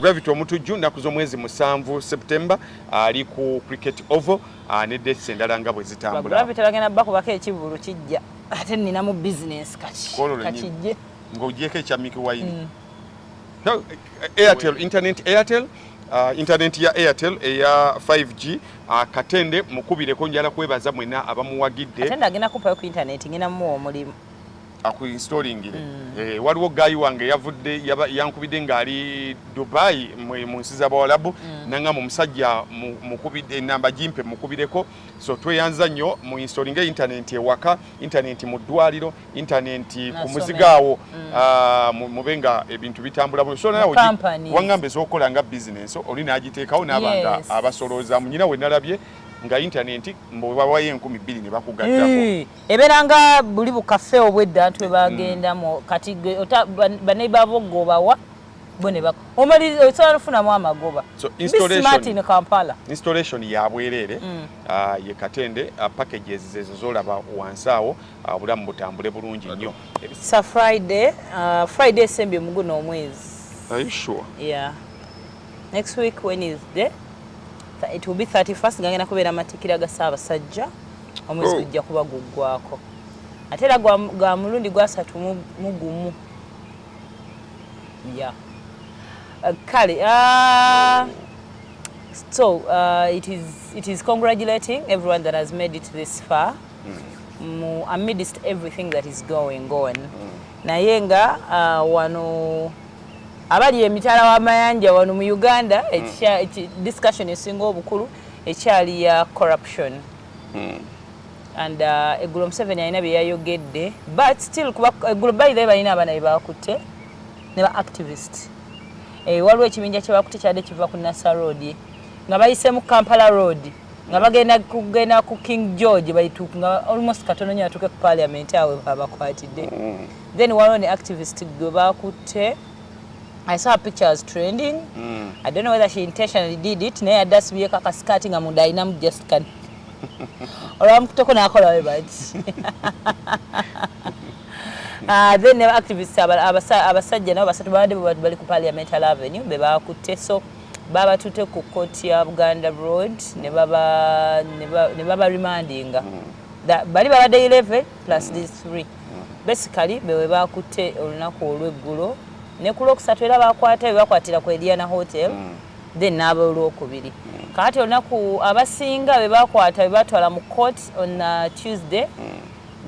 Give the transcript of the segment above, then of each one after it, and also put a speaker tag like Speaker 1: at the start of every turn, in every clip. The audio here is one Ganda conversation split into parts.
Speaker 1: Gravity Omutujju nnaku z'omwezi musanvu September ali ku Cricket Oval ah, ne dates endala nga bwe zitambula. Gravity bagenda bakubako
Speaker 2: ekivulu kijja ate nnina mu business kati kakijje ng'ogyeko ekya
Speaker 1: Mickey Wine. Mm. No, eh, Airtel, internet Airtel Uh, internet ya Airtel eya 5G uh, katende mukubireko njala kwebaza mwena abamuwagidde katende agenda kupayo ku
Speaker 2: internet ngina mu omulimu
Speaker 1: akuinstallingire mm. eh, waliwo gayi wange yavudde yankubidde ng'ali dubai mu nsi z'abawalabu mm. nangamba omusajja mukubidde enamba gimpe mukubireko so tweyanza nnyo mu installinga intanenti ewaka intanenti mu ddwaliro intanenti ku muzigo awo mm. ah, mube nga ebintu bitambula bulungi so nawe wangamba ez'okukola nga bizinensi oli n'agiteekawo n'aba nga abasoloozamu nyina we nalabye nga intanenti mbu bawayo enkumi bbiri ne bakugattako ebeera nga
Speaker 2: buli bukafe obwedda nti webagendamu mm. kati baneiba bo gobawa bo ne omaliriza osobola nofunamu amagoba
Speaker 1: in
Speaker 2: kampala installation ya
Speaker 1: bwereere mm. ah, ye katende ah, packages zezo zolaba wansi awo ah, obulamu butambule bulungi nnyo sa friday
Speaker 2: friday esembye muguno omwezi are you sure
Speaker 1: yeah
Speaker 2: next week wednesday it will be 31st gangenda kubeera matikira ga ssaabasajja omwezi oh. gujja kuba guggwako ate era gwa mulundi gwasatu mugumu ya uh, kale uh, so uh, it, is, it is congratulating everyone that has made it this far mm. amidst everything that is going on mm. naye nga uh, wano Abali emitala w'amayanja wano mu Uganda hmm. discussion esinga obukulu ekyali ya corruption hmm. and uh, eggulo Museveni alina bye yayogedde but still kuba eggulo by the way balina abaana be baakutte ne ba activist eh, waliwo ekibinja kye baakutte kyadde kiva ku Nasser Road nga bayiseemu Kampala Road nga bagenda kugenda ku king george baituka nga almost katono nyo atuke ku parliament awe abakwatidde mm. then waliwo ne activist gwe bakutte I saw pictures trending. Mm. I don't know whether she intentionally did it. Naye adda sibyeko akasikati nga munda alinamu just kani. Olwamukuteko n'akola we bati. Ah, then ne activists abasajja nabo basatu babadde bali ku parliamentary avenue be baakutte so Baabatutte ku kkooti ya Buganda Road ne baba ne ba- ne baba remandinga That- bali babadde 11 plus these three basically bewe baakutte olunaku olw'eggulo ne ku lwokusatu era baakwata bebakwatira ku Eliana Hotel then n'abolwokubiri kaati olunaku abasinga be baakwata be baatwala mu court on uh, Tuesday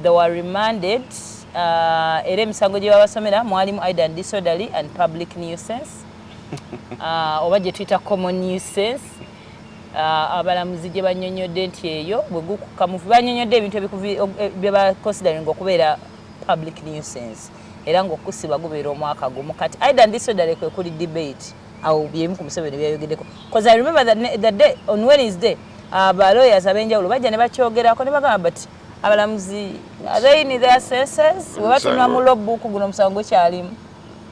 Speaker 2: they were remanded uh, era emisango gye babasomera mwalimu aidan disorderly and public nuisance uh, oba gye tuyita common new sense uh, abalamuzi gye banyonyodde nti eyo bwe gukuka mufu banyonyodde ebintu eh, bye baconsidering okubeera public new sense era ng'okusiba gubeera omwaka gumu kati aida ndisodale kwe kuli debate awo byemu ku museveni byayogeddeko bcause i remember the, the day on wednesday uh, ba lawyers ab'enjawulo bajja ne bakyogerako ne bagamba but abalamuzi they in their senses webatunula mu logbook guno omusango gwekyalimu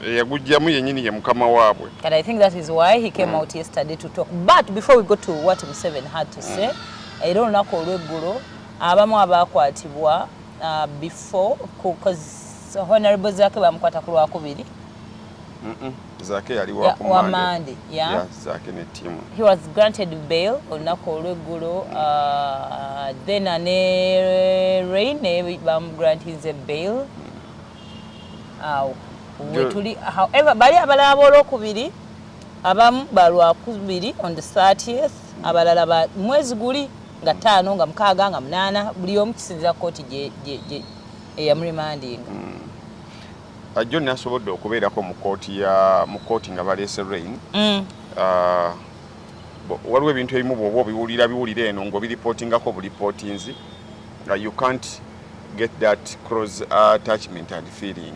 Speaker 2: eyagujjamu
Speaker 1: yenyini ye mukama waabwe and i think that is why
Speaker 2: he came mm. out yesterday to talk but before we go to what museven had to say mm. era olunaku olweggulo abamu abaakwatibwa uh, before because honorable zake bamukwata ku lwakubiri mm -mm.
Speaker 1: zake yali wamande yeah.
Speaker 2: yeah, zake
Speaker 1: ne timu he was granted
Speaker 2: bail olunaku olweggulo uh, then ane rain bamugrantinze bail mm. awo wetuli however bali abalala bolwokubiri abamu balwakubiri on the 30th abalala ba mwezi guli nga taano nga mukaaga nga munaana buli omu kisinzira kooti eyamurimandinga hmm.
Speaker 1: ah, john asobodde okubeerako mu kooti ya mu kooti nga baleese rain hmm. ah, waliwo ebintu ebimu bwoba obiwulira biwulira eno ng'obiripotingako bulipootinzi nga you can't get that close attachment and feeling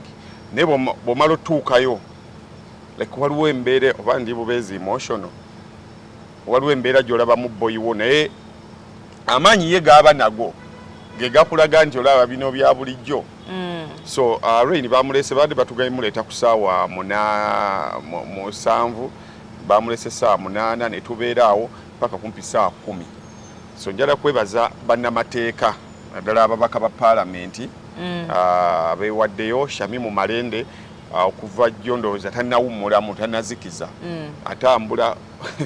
Speaker 1: naye bwomala otuukayo like waliwo embeera oba ndi bubeezi emotional waliwo embeera gyolabamu boyiwo naye amaanyi ye gaaba nago gegakulaga nti olaba bino bya bulijjo mm. so uh, rain bamulese baadde batugaye muleeta ku saawa musanvu bamulese saawa munaana netubeera awo paka kumpi saawa kumi So njala kwebaza bannamateeka naddala ababaka ba paalamenti mm. ah, abeewaddeyo Shamimu Malende ah, okuva jjo ndowooza tannawummulamu tannazikiza mm. atambula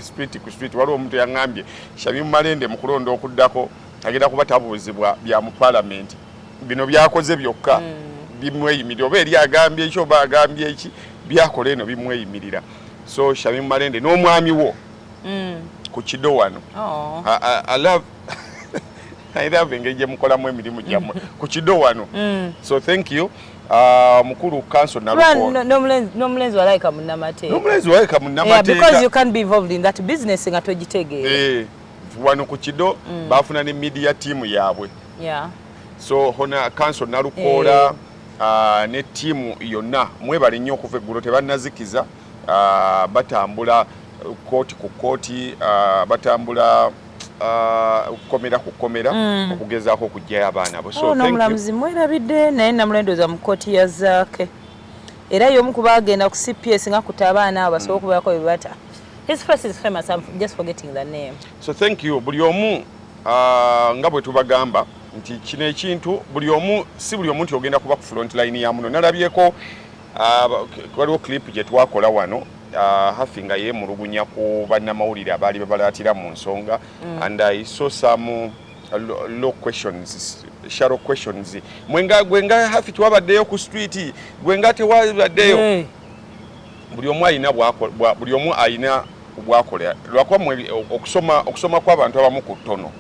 Speaker 1: street ku street waliwo omuntu yaŋŋambye Shamimu Malende mu kulonda okuddako agenda kuba tabuuzibwa bya mu paalamenti bino byakoze byokka mm. bimweyimirira oba eri agambye eki oba agambye eki byakola eno bimweyimirira so Shamimu Malende n'omwami wo mm. ku kido wano oh. I, I, I love I love engeri gye mukolamu emirimu gyammwe mm. ku kido wano mm. so thank you Uh, mukulu kanso
Speaker 2: nomulenzi walayika
Speaker 1: munnamateekaomulenzi walayika
Speaker 2: munnamateekabizinesi nga togitegeera eh, wano ku
Speaker 1: kido mm. baafuna ne media tiimu yaabwe
Speaker 2: so hona
Speaker 1: kanso nalukoola eh. uh, ne tiimu yonna mwebale nnyo okuva eggulo tebannazikiza uh, batambula kooti ku kooti uh, batambula okukomera ku kkomera mm. okugezaako okugyayo abaana bo oh, nomulamuzi mwerabidde
Speaker 2: naye namulendoza mu kooti ya zaake era yomu kuba agenda ku cps nga kuta abaana abo basobola okubeerako bye bata his face is famous i'm just forgetting the name so thank you buli
Speaker 1: omu uh, nga bwe tubagamba nti kino ekintu buli omu si buli omu nti ogenda kuba ku front line ya muno nalabyeko Ah, waliwo clip gye twakola wano ah, hafi nga yeemulugunya ku bannamawulire abaali babalaatira mu nsonga mm. and i saw some uh, low questions shallow questions mwenga gwenga hafi twabaddeyo ku street gwenga tewabaddeyo mm. buli omu alina buli omu alina bwakola lwakuba okusoma okusoma kw'abantu abamu ku ttono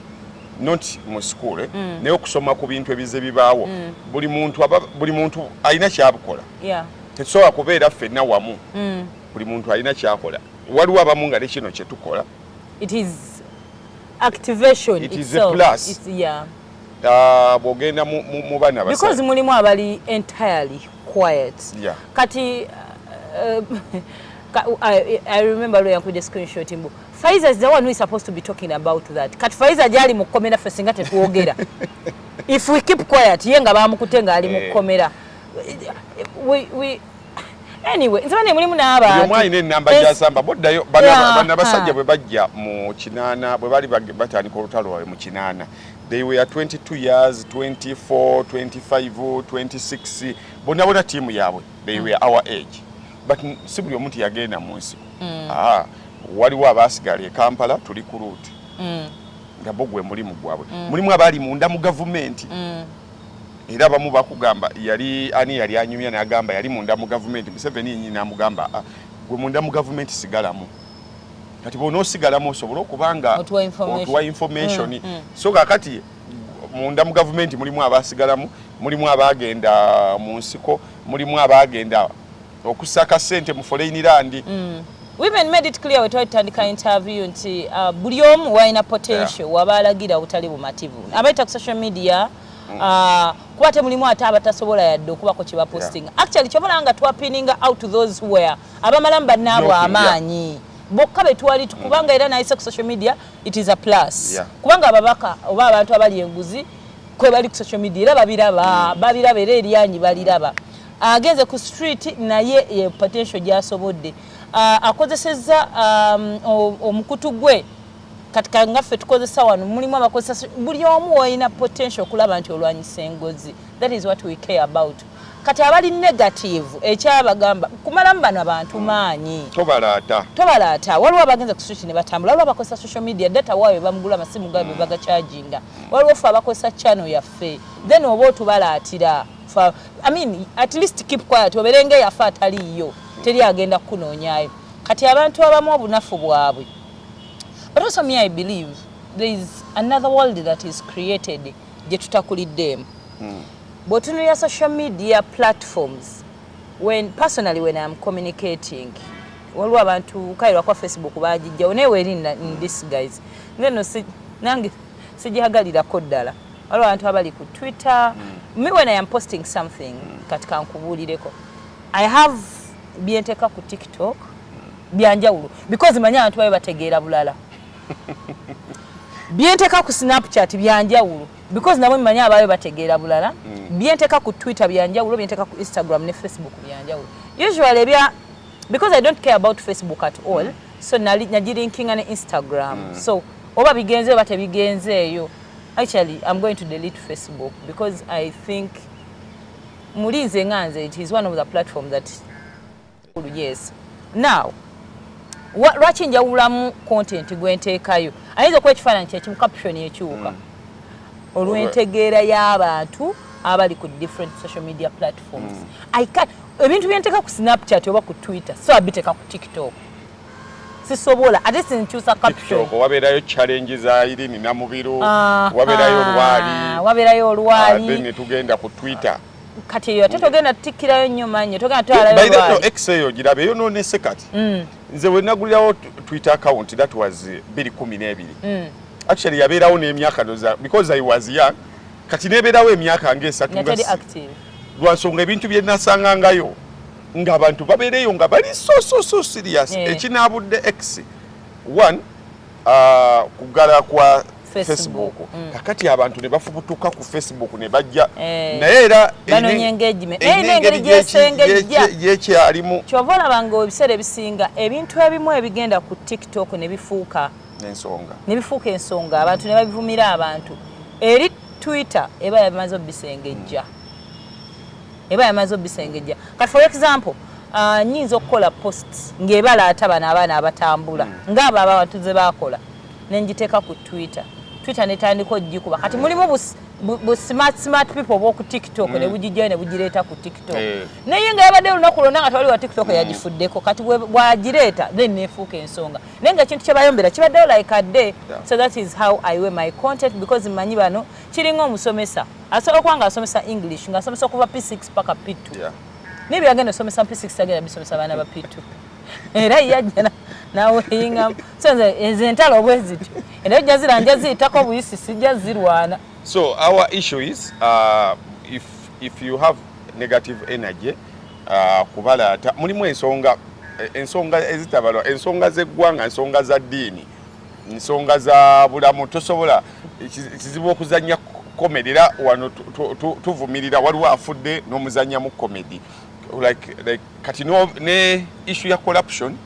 Speaker 1: not mu school eh? mm. naye okusoma ku bintu ebize bibaawo mm. buli muntu aba buli muntu alina kyabukola yeah. tetusobola kubeera ffenna wamu mm. buli muntu alina kyakola waliwo abamu nga nekino kyetukola it is
Speaker 2: activation it is a
Speaker 1: plus It's,
Speaker 2: yeah. uh,
Speaker 1: bwogenda mu, mu, mu bana because mulimu abali
Speaker 2: entirely quiet yeah. kati uh, uh, I, I remember lwe yankubye screenshot mbu Faiza is the one who is supposed to be talking about that. Kat Faiza jali mukomera fe singa tetuogera. If we keep quiet, ye nga bamukute nga ali eh. mukomera. We we anyway, nzaba ne mulimu n'aba. Yo mwali ne namba ya
Speaker 1: samba bodda yo bana bana basajja bwe bajja mu kinana bwe bali batandika olutalo lwawe mu kinana. They were 22 years, 24, 25, 26. Bona bona timu yabwe. They mm. were our age. but si buli omu nti yagenda mu nsiko mm. ah, waliwo abaasigala e kampala tuli ku luuti mm. nga bo gwe mulimu gwabwe mm. mulimu abaali munda mu gavumenti era bamu bakugamba yali ani yali anyumya nagamba yali munda mu gavumenti museveni yenyi namugamba ah, gwe munda mu gavumenti sigalamu kati bona osigalamu osobole okuba nga otuwa information so kakati munda mu gavumenti mulimu abasigalamu mulimu abaagenda mu nsiko mulimu abaagenda okusaka sente mu foreign land mm. women made
Speaker 2: it clear wetwali tutandika interview nti uh, buli omu walina potential yeah. waba alagira obutali bumativu abayita ku social media mm. uh, kuba temulimu ate abatasobola yadde okubako kyebapostinga yeah. actually kyobola nga twapininga out to those who were abamalamu bannaabwe amaanyi yeah. bokka betwali kubanga era nayise ku social media it is a plus yeah. kubanga ababaka oba abantu abali enguzi kwebali ku social media era babiraba mm. babiraba era eryanyi baliraba mm. Agenze ku street naye ye potential gyasobodde akozesezza um, omukutu gwe kati nga ffe tukozesa wano mulimu abakozesa buli omu wolina potential okulaba nti olwanyisa engozi that is what we care about kati abali negative ekyabagamba kumalamu bano abantu hmm. maanyi tobalaata tobalaata waliwo abagenza ku switch ne batambula waliwo abakozesa social media data waayo bamugula amasimu gaabyo hmm. bagacharginga waliwo ffe abakozesa channel yaffe then oba otubalaatira fa i mean at least keep quiet oberenge yafa atali yo teri agenda kunoonyayo kati abantu abamu obunafu bwabwe but also me i believe there is another world that is created gye tutakuliddeemu mm. bwotunulira social media platforms when personally when iam communicating waliwo abantu kale lwakuba facebook bagijjawo naye weri in this guys ngeno nange sigihagalirako ddala waliwo abantu abali ku twitter mm. me when i am posting something mm. kati kankubuulireko i have byenteka ku tiktok mm. byanjawulo because manyi abantu babe bategeera bulala byenteka ku snapchat byanjawulo because nabo manyi ababe bategeera bulala mm. byenteka ku twitter byanjawulo byenteka ku instagram ne facebook byanjawulo usually ebya because i don't care about facebook at all mm. so nagirinkinga ne instagram mm. so oba bigenze oba tebigenzeeyo Actually, I'm going to delete Facebook because I think Mulize Nganze, it is one of the platforms that yes. Now, lwaki njawulamu content gwe nteekayo ayinza okuba ekifaananyi kyekimu caption ekiwuka hmm. olw'entegeera y'abantu abali ku different social media platforms hmm. ebintu byenteeka ku snapchat oba ku twitter so abiteeka ku tiktok sisobola ate sinkyusa captionoko wabeerayo challenge
Speaker 1: za irini namubiru ah, wabeerayo ah, olwali wabeerayo olwali ah, ne tugenda ku twitter kati eyo ate
Speaker 2: togenda tutikirayo nnyo mannyo togenda tutwalayo ex eyo girabe
Speaker 1: eyo nonese kati mm. nze wenagulirawo twitter account that was eh, biri kumi n'ebiri mm. actually yabeerawo n'emyaka noza because i was young kati nebeerawo emyaka ngaesatu lwansonga ebintu byenasangangayo nga abantu babeereyo nga bali so so so serious yeah. ekinaabudde x one uh, kugala kwa facebook mm. kakati abantu ne bafubutuka ku facebook ne bajja hey. Eh. naye era engeri
Speaker 2: gyesengejja yekyalimu
Speaker 1: kyova olaba nga
Speaker 2: ebiseera ebisinga ebintu ebimu ebigenda ku tiktok ne bifuuka ensonga ne bifuuka ensonga abantu ne babivumira abantu eri twitter eba yabimaze obisengejja mm. eba yamaze obisengejja kati for example uh, nyinza okukola post ng'ebala ata bano abaana abatambula mm. ng'abo abawatuze bakola nenjiteeka ku twitter twitter netandika ogikuba kati mulimu busi bu smart smart people boku tiktok mm. ne bujijja ne bujireta ku tiktok eh. naye nga yabadde olunaku lwonna nga tewali wa tiktok mm. yagifuddeko kati bwagireeta then nefuuka ensonga naye nga ekintu kyebayombera kibaddewo like a day yeah. so that is how i wear my content because manyi bano kiringa omusomesa asobola okuba nga asomesa english nga asomesa okuva p6 paka p2 yeah. naye byagenda osomesa p6 agenda bisomesa abaana ba p2 era yajja naweyingamu so nze ezo entalo obwezityo era ojja zira nja ziyitako obuyisi sijja zirwana so our
Speaker 1: issue is uh, if, if you have negative energy uh, kubalaata mulimu ensonga ensonga ezitabalwa ensonga z'eggwanga ensonga za ddiini nsonga za bulamu tosobola kizibu okuzanya comedy era wano tuvumirira waliwo afudde n'omuzanyamu comedy like, like, kati no, ne issue ya corruption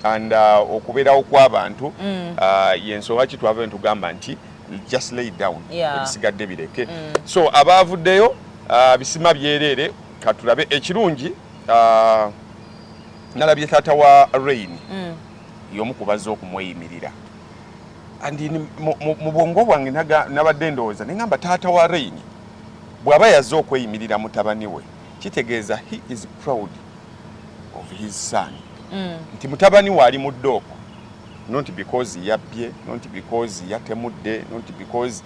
Speaker 1: and uh, okubeerawo kw'abantu mm. uh, yensonga ki twava netugamba nti just lay down ebisigadde yeah. bireke mm. so abaavuddeyo uh, bisima byereere katulabe ekirungi uh, nalabye taata wa rain mm. yomu kubazze okumweyimirira and mu bwongo bwange nabadde ndowooza ne ngamba taata wa rain bw'aba yazze okweyimirira mutabani we kitegeeza he is proud of his son mm. nti mutabani we ali mu ddooko not because yabbye not because yatemudde not because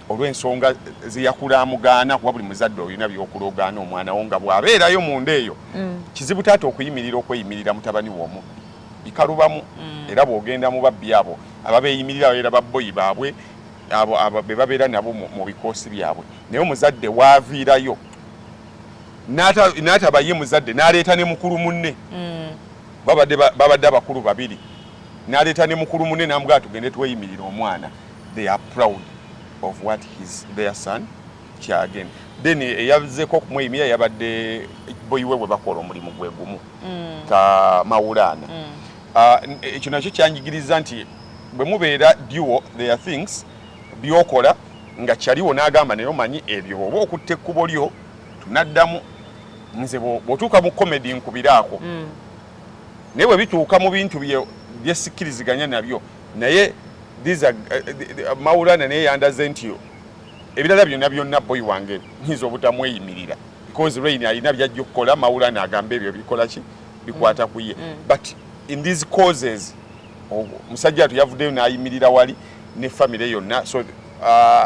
Speaker 1: olw'ensonga zeyakula amugaana kuba buli muzadde olina byokulogaana omwana wo nga bw'abeerayo munda eyo mm. kizibu taata okuyimirira okweyimirira mutabani w'omubbi bikalubamu mm. era bwogenda mu babbi abo ababeeyimirira babeera babboyi baabwe abo be babeera nabo mu bikoosi byabwe naye omuzadde waaviirayo n'ataba ye muzadde n'aleeta ne mukulu munne mm. babadde abakulu babiri n'aleeta ne mukulu munne n'amugaa tugende tweyimirira omwana they are proud of what his their son kyagen then eyazeko okumweyimirira yabadde boyiwe bwe bakola omulimu gwe gumu mm. ka mawulaana mm. ah, ekyo nakyo kyanjigiriza nti bwe mubeera duo their things byokola nga kyaliwo n'agamba naye omanyi ebyo oba okutta ekkubo lyo tunaddamu nze bwotuuka mu komedi nkubiraako mm. naye bwe bituuka mu bintu byesikkiriziganya nabyo naye these are uh, the, the, uh, maulana naye yandaze nti ebirala byonna byonna boyi wange nyinza obutamweyimirira because rain alina byajja okukola mawulana agamba ebyo bikola ki bikwata mm. kuye mm. but in these causes omusajja watu yavuddeyo n'ayimirira wali ne famire yonna so uh,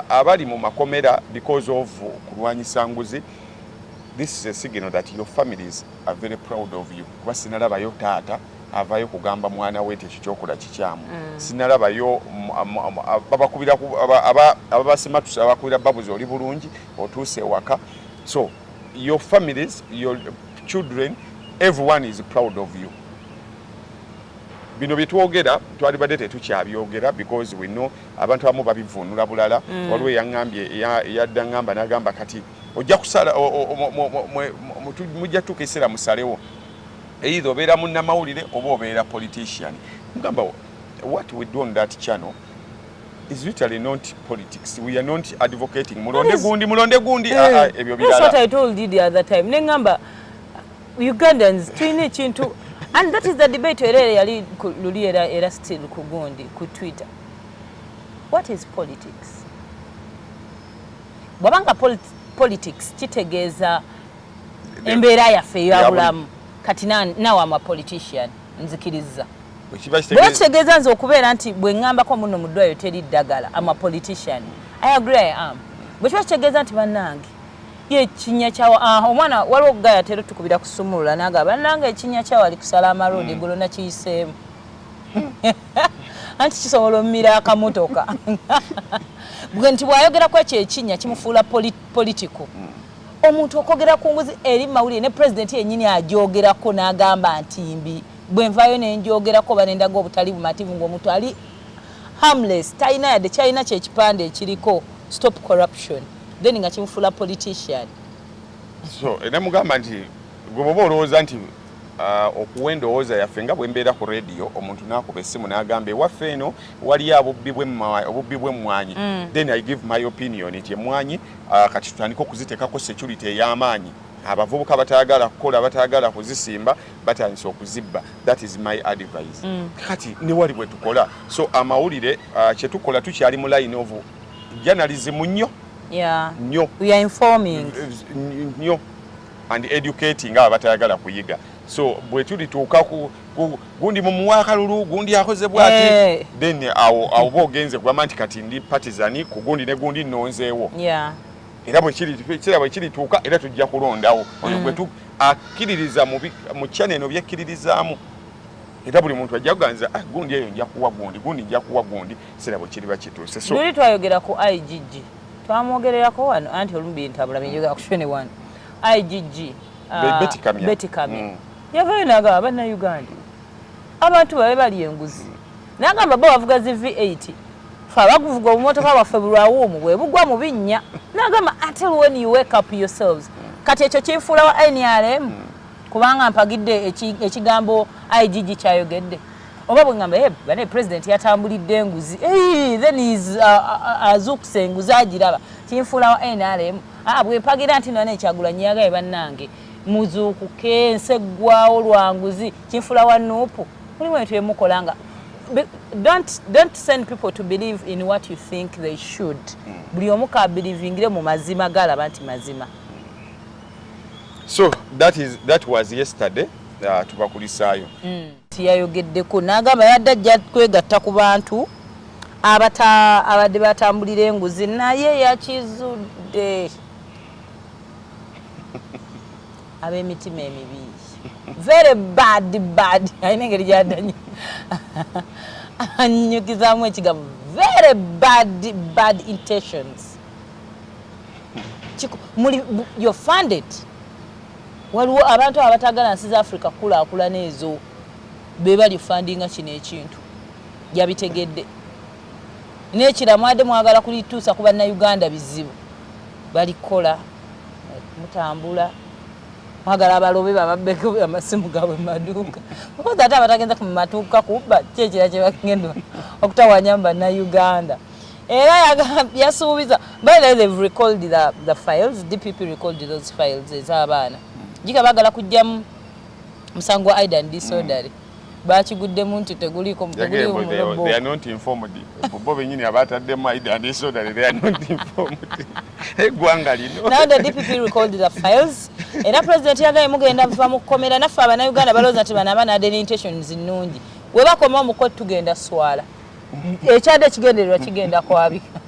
Speaker 1: abali mu makomera because of kulwanyisa nguzi this is a signal that your families are very proud of you kuba sinalabayo taata avayo kugamba mwana we nti ekikyokola kikyamu mm. sinalabayo babakubira ababasimatuse abakubira babuzi oli bulungi otuuse ewaka so your families your children everyone is proud of you bino byetwogera twalibadde tetukyabyogera because we know abantu abamu babivuunula bulala mm. waliwo eyaŋambye yadda ŋamba nagamba kati ojja kusala mujja tuuka ekiseera musalewo eitha obeera munnamawulire oba obeera politician mugamba what we do on that channel is literally not politics we are not advocating mulonde gundi mulonde gundi eh. ah, ah, ebyo bilala that's what i told you the other time nengamba ugandans tulina ekintu and
Speaker 2: that is the debate era yali luli era era still ku gundi ku twitter what is politics bwabanga politics kitegeeza embeera yaffe eyabulamu kati nawe ama politician na nzikiriza bwekitegeza nze okubeera nti bwengambako muno mudwayo teri ddagala ama politician i agree i am bwekiba kitegeeza nti banange yekinya kyawa ah, omwana waliwo ogugaya tero tukubira kusumulula naga banange ekinya kyawa ali kusala amaroodi mm. gulo nakiyiseemu anti kisobola omumira akamotoka nti bwayogera kwekyo ekinya kimufuula politiko mm. Omuntu okwogera ku nguzi eri mu mawulire ne Pulezidenti yennyini agyogerako n'agamba nti mbi, bwe nvaayo ne ngyogerako oba ne ndaga obutali bumativu ng'omuntu ali harmless, talina yadde ky'alina kye kipande ekiriko Stop Corruption, then nga kimufuula politician. So,
Speaker 1: era mugamba nti gwe bw'oba olowooza nti Ah, okuwa endowooza yaffe nga bwe mbeera ku rediyo omuntu n'akuba essimu n'agamba ewaffe eno waliyo obubbi bw'emmwanyi mm. then i give my opinion nti emmwanyi ah, kati tutandika okuziteekako security ey'amaanyi abavubuka batayagala kukola batayagala kuzisimba batandise okuzibba that is my advice mm. kati newali bwe tukola so amawulire ah, kye tukola tukyali mu line of journalism nnyo nnyo
Speaker 2: nnyo
Speaker 1: and educating abo batayagala kuyiga so bwetulituuka gundi mumuwa akalulu gundi akoze bwati hey. Eh. then awo awo bogenze kugamba nti kati ndi patizani ku gundi ne gundi nonzeewo yeah.
Speaker 2: era
Speaker 1: bwekira bwekirituuka era tujja kulondawo oyo mm. gwetu akkiririza mu kyana eno byekkiririzaamu era buli muntu ajja kuganza ah, gundi eyo njakuwa gundi gundi njakuwa gundi sira bwekiriba kituuse so, twayogera ku
Speaker 2: igg twamwogererako wano anti olumu bintabula binjogera ku shone one igg uh, Betty Kamya. Betty Kamya. Mm. yavayo nagamba bannayuganda abantu babe bali enguzi nagamba bo bavuga zi v8 fe abaguvuga obumotoka bwaffe bulwawuumu bwe bugwa mu binnya nagamba until when you wake up yourselves kati ekyo kinfuula wa nrm kubanga mpagidde eki- ekigambo igg kyayogedde oba bwengamba eh, bane president yatambulidde enguzi eh, then is uh, uh, uh, azukuse enguzi agiraba kinfuula wa nrm ah, bwempagira nti nane ekyagula nyagaye bannange muzuukuke ensi eggwawo lwa nguzi kinfuula wa nuupu mulimu ebintu byemukola nga don't, don't send people to believe in what you think they should hmm. buli omu kabilivingire mu mazima galaba nti mazima
Speaker 1: so that, is, that was yesterday uh, tubakulisaayo mm.
Speaker 2: Yayogeddeko n'agamba abadde ajja kwegatta ku bantu ababadde batambulira enguzi naye yakizudde ab'emitima emibi very bad bad alina engeri gyadanyi anyukizamu ekigambo very bad bad intentions muli your funded Waliwo abantu abatagala nsi za Africa kukulakulana ezo bebali fundinga kino ekintu jabitegedde nekila mwade mwagala kulitusa kuba na Uganda bizibu bali kola mutambula mwagala abalobe bababbe amasimu gabwe maduka because ate abatagenza kumatuka kubba kyekira kyebagenda okutawanya mba na Uganda era yasuubiza by the way they've recalled the, the files dpp recalled those files ez'abaana jiga bagala kujjamu musango wa aidan disordery mm. bakiguddemu nti teguliiko
Speaker 1: bo benyini abataddemu aidan disordery they are not informed eggwanga lino now the dpp recalled
Speaker 2: the files era president yagaye mugenda muva mu kkomera naffe abanauganda balowooza nti bano abaana adeni intentions nnungi webakoma omukoti tugenda swala ekyadde ekigendererwa kigenda kwabika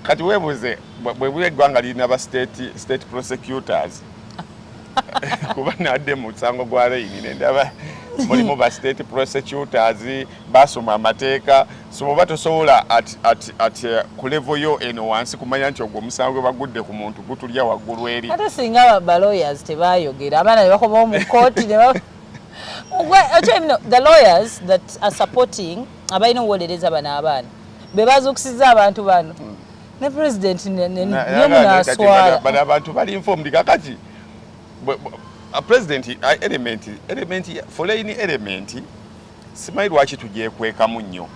Speaker 1: kati webuze bwebuba eggwanga lirina ba state prosecutors kuba nadde mu musango gwa reyini nendaba mulimu ba state prosecutors basoma amateeka so oba tosobola eh, ku levo yo eno wansi kumanya nti ogwo omusango gwe bagudde ku muntu gutulya waggulu eri ate singa balawyers
Speaker 2: tebayogera abaana ne bakomawo mu kooti the lawyers that are supporting abalina owolereza bano abaana bebazukusiza abantu bano hmm. ne president nemunaswala abantu bali
Speaker 1: informed kakati president element element foreign element simanyi lwaki tugyekwekamu nnyo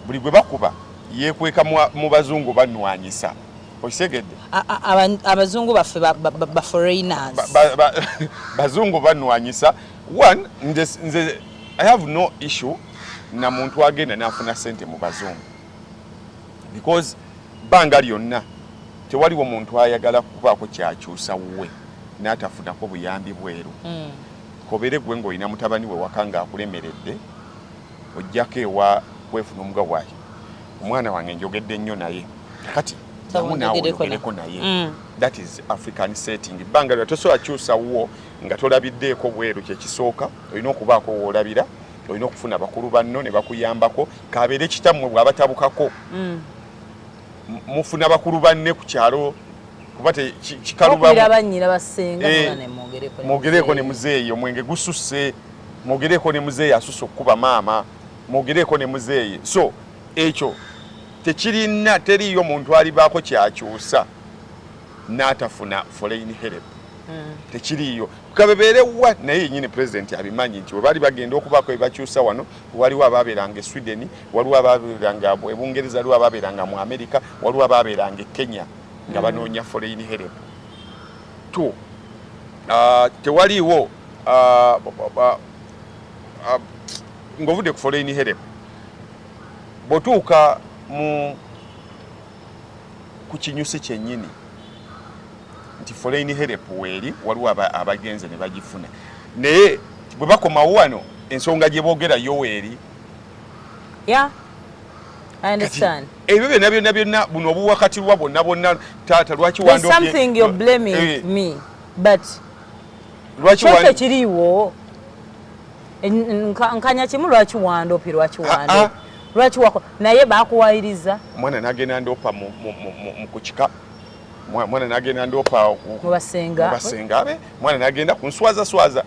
Speaker 1: buli gwe bakuba yekweka mu bazungu banwanyisa okitegedde
Speaker 2: abazungu baffe baforeigners
Speaker 1: bazungu banwanyisa one nze i have no issue na muntu agenda nafuna sente mu bazungu because banga lyonna tewaliwo muntu ayagala kubaako kyakyusa wuwe natafunako buyambi bweru mm. Kobere gwe ngolina mutabani we waka nga akulemeredde ojjako ewa kwefuna omuga wayo omwana wange njogedde nnyo naye kakati namunawogereko naye mm. that is african setting banga lya tosobola kyusa wo nga tolabiddeeko bweru kyekisooka olina okubaako woolabira olina okufuna bakulu banno ne bakuyambako kabeere kitammwe bwabatabukako mm. mufuna bakulu banne ku kyalo kuba tekikalubamwogereeko eh, ne muzeeyi omwenge gususse mwogereeko ne muzeeyi asusse okukuba maama mwogereeko ne muzeeyi so ekyo tekirina teriiyo muntu alibaako kyakyusa n'atafuna foreign help hmm. tekiriiyo kabebeerewa naye yenyini pulezidenti abimanyi nti webaali bagenda okubaako ebakyusa wano waliwo abaabeeranga e sweden waliwo abaabeeranga e bungereza waliwo abaabeeranga mu amerika waliwo abaabeeranga e kenya nga mm. banoonya foreign help t uh, tewaliiwo uh, uh, ng'ovudde ku foreign help bw'otuuka mu ku kinyusi kyennyini nti foreign help weeri waliwo abagenze ne bagifuna naye bwe bakomawo wano ensonga gye boogera yo weeri
Speaker 2: yeah. ebyo byonna byonna byonna
Speaker 1: buno obuwakatirwa bwonna bwonna taata lwaki
Speaker 2: wandlwaki wandkiriiwo nkanya kimu lwaki wandopi lwaki wando lwaki wako naye bakuwayiriza mwana nagenda
Speaker 1: ndopa mu kukika mwana nagenda ndopa mu basenga
Speaker 2: be mwana
Speaker 1: nagenda ku nswaza swaza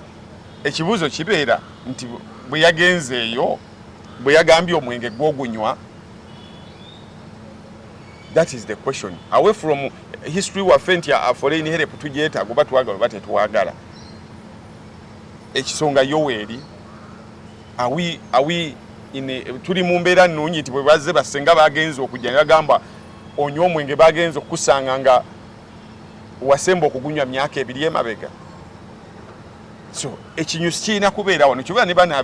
Speaker 1: ekibuuzo kibeera nti bwe yagenzeeyo bwe yagambye omwenge gwogunywa that is the question away from history waffe nti aforeign help tugyetaaga oba twagala oba tetwagala Ekisonga Yoweri awi awi ine tuli mu mbeera nnungi nti bwe bazze bassenga bagenze okujja ne bagamba onywa omwenge bagenze okukusanga nga wasemba okugunywa myaka ebiri emabega so ekinyusi kirina kubeera wano kyobeera ne bana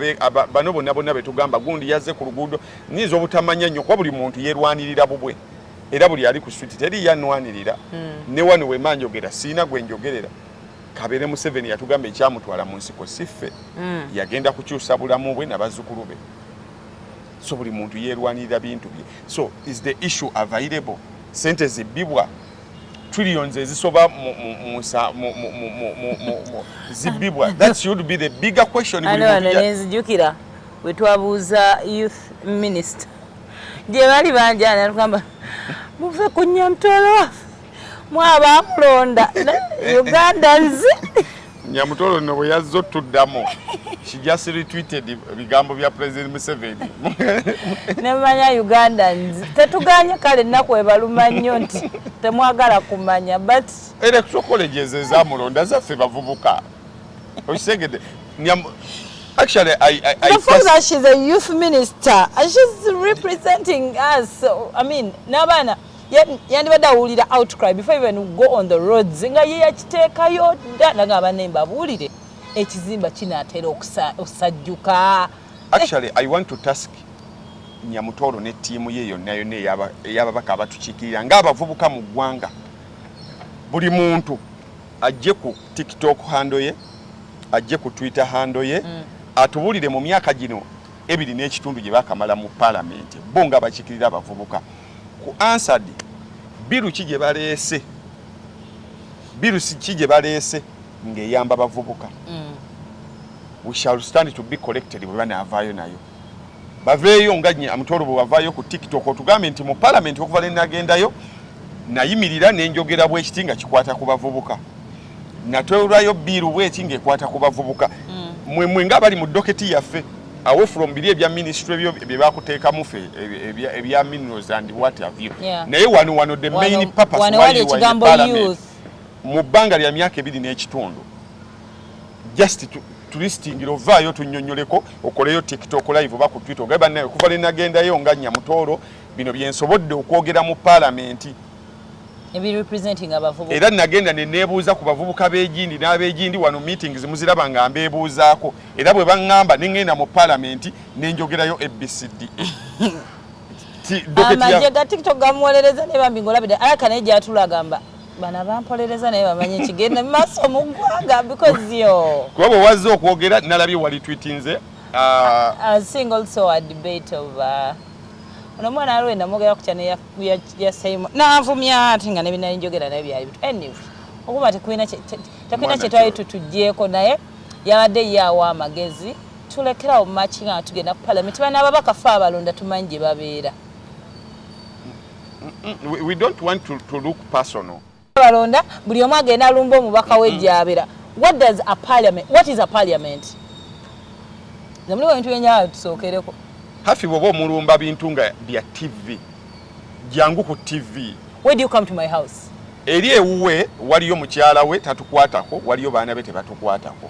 Speaker 1: bano bonna bonna betugamba gundi yazze ku luguudo nyinza obutamanya nnyo kuba buli muntu yerwanirira bubwe era buli ali ku switi teri yanwanirira hmm. ne wano wemanjogera siina gwe njogerera kabere museveni yatugamba ekyamutwala mu nsiko siffe mm. yagenda kukyusa bulamu bwe nabazzukulu be so buli muntu yerwanirira bintu bye so is the issue available sente zibbibwa trillions ezisoba zibbibwa that should be the bigger question nenzijukira
Speaker 2: wetwabuuza youth minister gye bali banjana tugamba muve ku nyamtolo waffe mwaba mulonda ugandans
Speaker 1: nyamutolo no bwe yazze ottuddamu she just retweeted ebigambo bya president museveni
Speaker 2: nemanya ugandans tetuganye kale ennaku ebaluma nnyo nti temwagala kumanya but electoral colleges
Speaker 1: ezamulonda zaffe bavubuka okitegedde Actually, I, I, I the fact
Speaker 2: that she's a youth minister, she's representing us. So, I mean, Nabana, yandibadde awulira outcry before even go on the roads nga ye yakiteekayo dda naga abanne mbabuulire ekizimba kinaatera okusajjuka actually
Speaker 1: i want to task nyamutooro ne ttiimu ye yonna yonna eyababaka abatukiikirira ng'abavubuka mu ggwanga buli muntu ajje ku tiktok hando ye ajje ku twitter hando ye mm. atubuulire mu myaka gino ebiri n'ekitundu gye bakamala mu palamenti bo nga bakikirira abavubuka Ku answered biru ki gye baleese biru ki gye baleese ng'eyamba bavubuka mm. we shall stand to be collected bwe banaavaayo nayo baveeyo nga amutoro bwe wavaayo ku tiktok otugambe nti mu palamenti okuva lwe nagendayo nayimirira nenjogera bwekiti nga kikwata ku bavubuka natwewulwayo biiru bweki ngaekwata ku bavubuka mm. mwe mwe nga bali mu doketi yaffe awe from biri ebya ministry byo bye bakuteekamu fe ebya minerals and what have you naye wano wano the main purpose why you are in parliament mu bbanga lya myaka ebiri n'ekitundu just tulistingira ovaayo tunyonyoleko okoleyo tiktok live oba ku twitter ogae bannaye okuva linagendayo nga nyamutooro bino byensobodde okwogera mu palamenti
Speaker 2: era nagenda nenebuuza
Speaker 1: ku bavubuka b'egindi n'ab'egindi wano meetings muziraba nga mbeebuuzaako era bwe baŋŋamba ne ŋŋenda mu palamenti ne njogerayo abcd
Speaker 2: amagye ga tiktok gamuwolereza naye bambi ng'olabide alaka naye gyatula agamba bana bampolereza naye bamanyi ekigenda mu maaso mu ggwanga because yo kuba bwe wazze okwogera
Speaker 1: nalabye wali twitinze uh, a
Speaker 2: single so a debate of uh, ono omwana aliwo enamwogera kutya neya yasayimu nanvumya ate nga nebinali njogera naye byali bitu anyway okuba tekulina tekulina kyetwali tutugyeko naye yabadde ye awa amagezi tulekerawo maki nga tugenda ku palamenti bana ababaka fe abalonda tumanyi gye babeera
Speaker 1: we don't want to, to look personal balonda buli
Speaker 2: omu agenda lumba omubaka we gyabera mm-hmm. what does a parliament what is a parliament zamuli bintu byenyawo tusookereko hafi bwoba
Speaker 1: omulumba bintu nga bya tv jangu ku tv where do you come to my
Speaker 2: house eri ewuwe
Speaker 1: waliyo mukyala we tatukwatako waliyo baana be tebatukwatako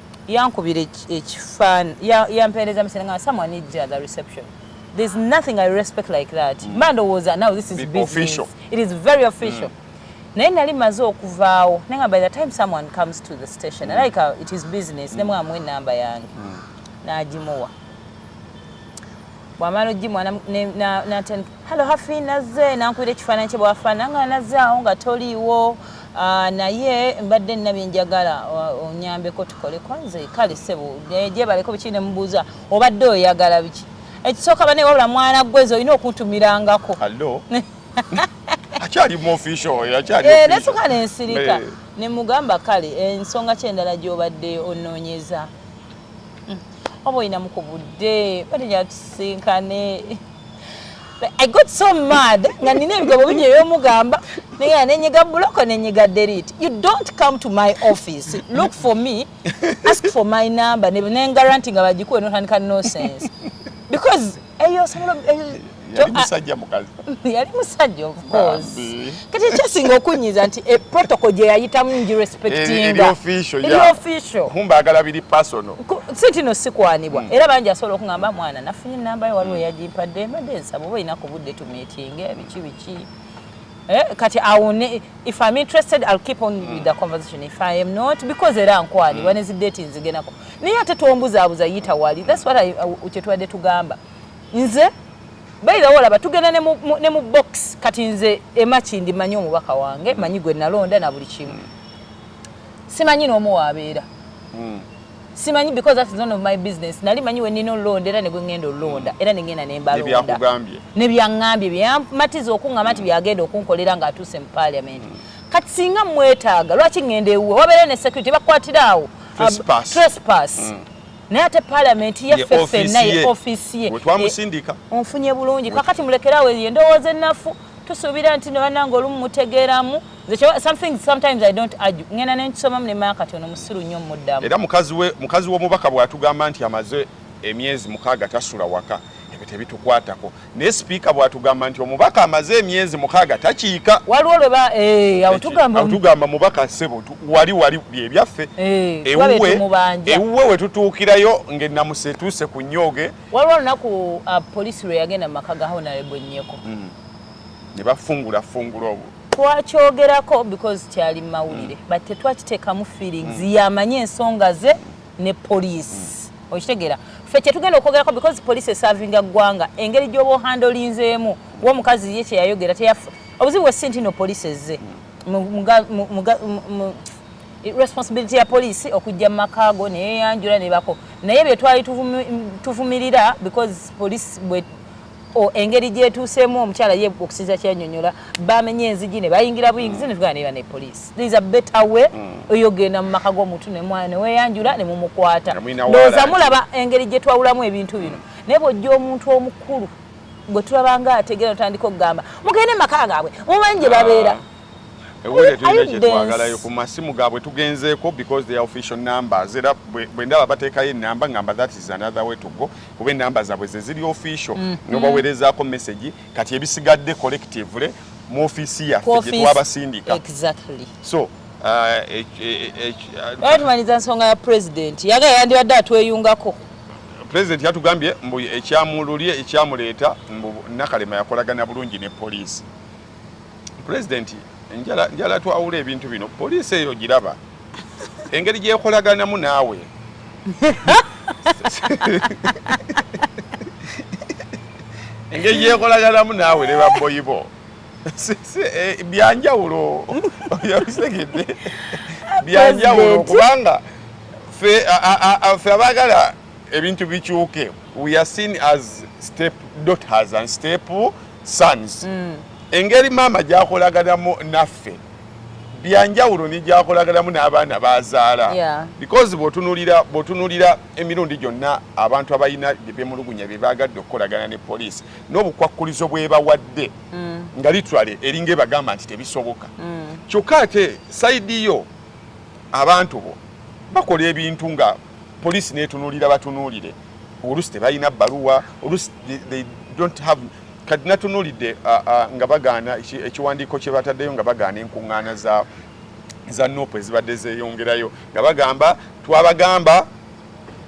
Speaker 2: Yankubira ekifan yampereza message nga someone needs you at the reception there's nothing I respect like that mm. mba ndowooza now this is Be business official. it is very
Speaker 1: official
Speaker 2: mm. naye nali maze okuvaawo naye nga by the time someone comes to the station mm. like uh, it is business mm. nemwamu enamba yange mm. nagimuwa bwamala ojimwa natandika halo hafi nazze nankubira ekifaananyi kye bwafaana nga nazze awo nga toliiwo ah, naye mbadde nina byenjagala ah, onyambeko tukoleko nze kale sebo gyebaleko biki nemubuuza obadde oyagala biki ekisooka bane wabula mwana gwezo olina okuntumirangako akyali
Speaker 1: muofficialnasuka eh,
Speaker 2: nensirika nemugamba kale ensonga kyendala gyobadde onoonyeza Mm. Oba oyina mu kubudde bali yatusinkane. I got so mad nga nina ebigambo bingi ebyomugamba naye nenyiga buloko nenyiga delete you don't come to my office look for me ask for my number nengaranti nga bagikuwe notandika no sense because eyo osobola
Speaker 1: yali musajja mukazi yali musajja
Speaker 2: of course kati ekyasinga okunyiza nti e protocol gye yayitamu ngirespectinga
Speaker 1: kumba agala biri personal si tino
Speaker 2: sikwanibwa hmm. era bangi asobola okungamba mwana nafunye enamba ye waliwo hmm. yagimpadde mbadde nsaba oba olina ku budde tumitinge biki biki Eh, kati awone if I'm interested I'll keep on with the conversation if I am not because era nkwani mm. when is date nzigenako naye ate tombuza abuza yita wali that's what I uchetwade tugamba nze by the way laba tugenda ne mu, ne mu box kati nze emachi ndi manyi omubaka wange mm. manyi gwe nalonda na buli kimu mm. simanyi no mu wabeera mm. simanyi because that is none of my business nali manyi wenina olulonda era negwengenda olulonda era nengenda nembalonda nebyaŋambye byamatiza okuŋama nti byagenda okunkolera nga atuuse mu parliament kati singa mwetaaga lwaki ŋenda ewuwe wabeera ne security bakwatira awo trespass um, mm. naye ate palamenti yaffe fenna ye ofisi ye onfunye
Speaker 1: bulungi
Speaker 2: kakati mulekerawo eyo endowooza ennafu tusuubira nti nebananga olumu mutegeeramu some things sometimes i don't argue ngenda nenkisomamu nemaya kati ono musiru nnyo muddamu era mukazi
Speaker 1: w'omubaka bw'atugamba nti amaze emyezi mukaaga tasula waka ebyo tebitukwatako naye sipiika bw'atugamba nti omubaka amaze emyezi mukaaga takiika waliwo lweba
Speaker 2: eh, awutugamba
Speaker 1: mubaka ssebo wali wali byebyaffe eh, ewuwe ewuwe wetutuukirayo ng'ennamusa etuuse ku nnyooge waliwo olunaku
Speaker 2: ah, poliisi lwe yagenda mu maka ga honorable nyeko hmm. ne
Speaker 1: bafungula fungula obwo twakyogerako
Speaker 2: because kyali mumawulire mm. but tetwakitekamu feelings mm. yamanyi ensonga ze ne police mm. okitegera fe kyetugenda okwogerako because police esavinga ggwanga engeri gyoba ohandolinzeemu womukazi ye kyeyayogera teyafa obuzibu wesi ntino police ezze responsibility ya police okujja mu makaago neyeyanjula nebako naye byetwali tuvumirira because police o engeri gyetuuseemu omukyala ye okusinza kyanyonyola bamenye enzigi ne bayingira buyingizi ne tugana neba ne poliisi there is a better way mm. oyogenda mu maka g'omuntu ne weeyanjula ne mumukwata ndowooza mulaba engeri gye twawulamu ebintu bino mm. naye bw'ojja omuntu omukulu gwe tulaba nga ategeera otandika okugamba mugende maka gaabwe mumanyi gye babeera ah. ewulire
Speaker 1: tulina kyetwagalayo ku masimu gaabwe tugenzeeko because their official numbers era bwe ndaba bateekayo enamba ngamba that is another way to go kuba enamba zaabwe zeziri official mm. nobawerezaako message kati ebisigadde collectively mu offiisi yaffe gyetwabasindika exactly. so
Speaker 2: tumaliza nsonga ya president yaga yandibadde atweyungako president
Speaker 1: yatugambye mbu ekyamululye ekyamuleeta mbu nakalema yakolagana bulungi ne poliisi president njala njala twawula ebintu bino poliisi eyo giraba engeri gyekolaganamu naawe engeri gyekolaganamu naawe ne babboyi bo eh, byanjawulo yabitegedde byanjawulo kubanga fe abaagala ebintu bikyuke we are seen as step daughters and step sons mm. engeri maama gyakolaganamu naffe byanjawulo negyakolaganamu n'abaana bazaala yeah. because bwotunulira bwotunulira emirundi gyonna abantu abalina byebemulugunya byebagadde okukolagana ne poliisi n'obukwakkulizo bwebawadde mm. nga litwale eringa ebagamba nti tebisoboka mm. kyokka ate saidi yo abantu bo bakola ebintu nga police netunulira batunulire olusi tebalina baluwa olusi they don't have kati natunulidde nga bagaana ekiwandiiko kye bataddeyo nga bagaana enkuŋŋaana za za nup ezibadde zeyongerayo nga bagamba twabagamba